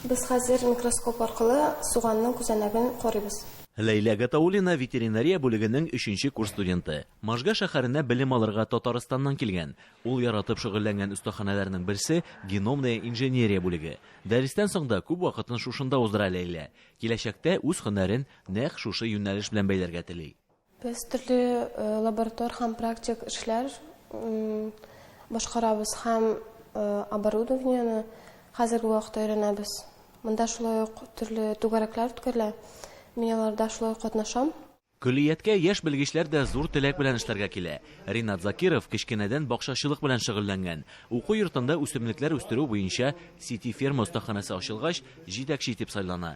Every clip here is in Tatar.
Без хәзер микроскоп аркылы суганның күзәнәген карыйбыз. Ләйлә Гатауллина ветеринария бүлегенең өченче курс студенты. Можга шәһәренә белем алырга Татарстаннан килгән. Ул яратып шөгыльләнгән остаханәләрнең берсе, геномная инженерия бүлеге. Дәрестән соң да күп вакытын шушында уздыра Ләйлә. Киләчәктә үз һөнәрен нәкъ шушы юнәлеш белән бәйләргә тели. Без төрле лаборатор һәм практик эшләр башкарабыз һәм оборудованиене хәзерге вакытта өйрәнәбез. Монда шулай ук төрле түгәрәкләр үткәрелә. Мин аларда шулай катнашам. Көллияткә яшь белгечләр дә зур теләк белән эшләргә килә. Ринат Закиров кечкенәдән бакчачылык белән шөгыльләнгән. Уку йортында үсемлекләр үстерү буенча сити-ферма остаханәсе ачылгач, җитәкче итеп сайлана.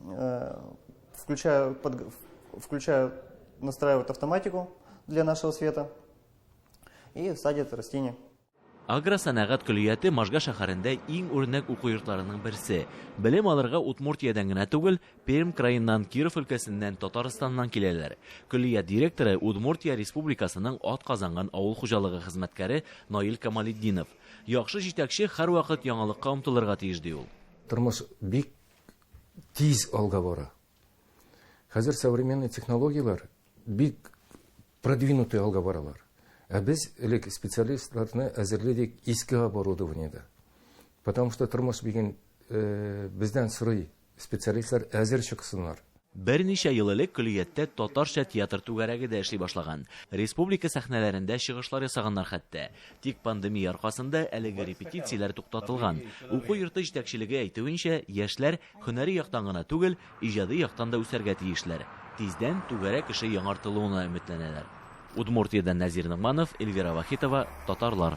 Э, включаю, под, включаю, настраивает автоматику для нашего света и садит растение. Агросәнәгать көллияте Можга шәһәрендә иң үрнәк уку йортларының берсе. Белем алырга Удмуртиядән генә түгел, Пермь краеннан, Киров өлкәсеннән, Татарстаннан киләләр. Көллият директоры Удмуртия республикасының ат казанган авыл хуҗалыгы хезмәткәре Наил Камалетдинов. Яхшы җитәкче һәрвакыт яңалыкка омтылырга тиеш ди ул. Тормыш бик тиз алга бара. Хәзер современный технологияләр бик продвинутый алга баралар. Ә без элек специалистларны әзерлидек иске оборудованиедә. Потому что тормыш биген э, бездән сорый специалистлар әзер чыксыннар. Берничә ел элек көллияттә татарча театр түгәрәге дә эшли башлаган. Республика сәхнәләрендә чыгышлар ясаганнар хәтта. Тик пандемия аркасында әлеге репетицияләр туктатылган. Уку йорты җитәкчелеге әйтүенчә, яшьләр һөнәри яктан гына түгел, иҗади яктан да үсәргә тиешләр. Тиздән түгәрәк эше яңартылуына өметләнәләр. Удмуртиядән Нәзир Ногманов, Эльвира Вахитова, Татарлар.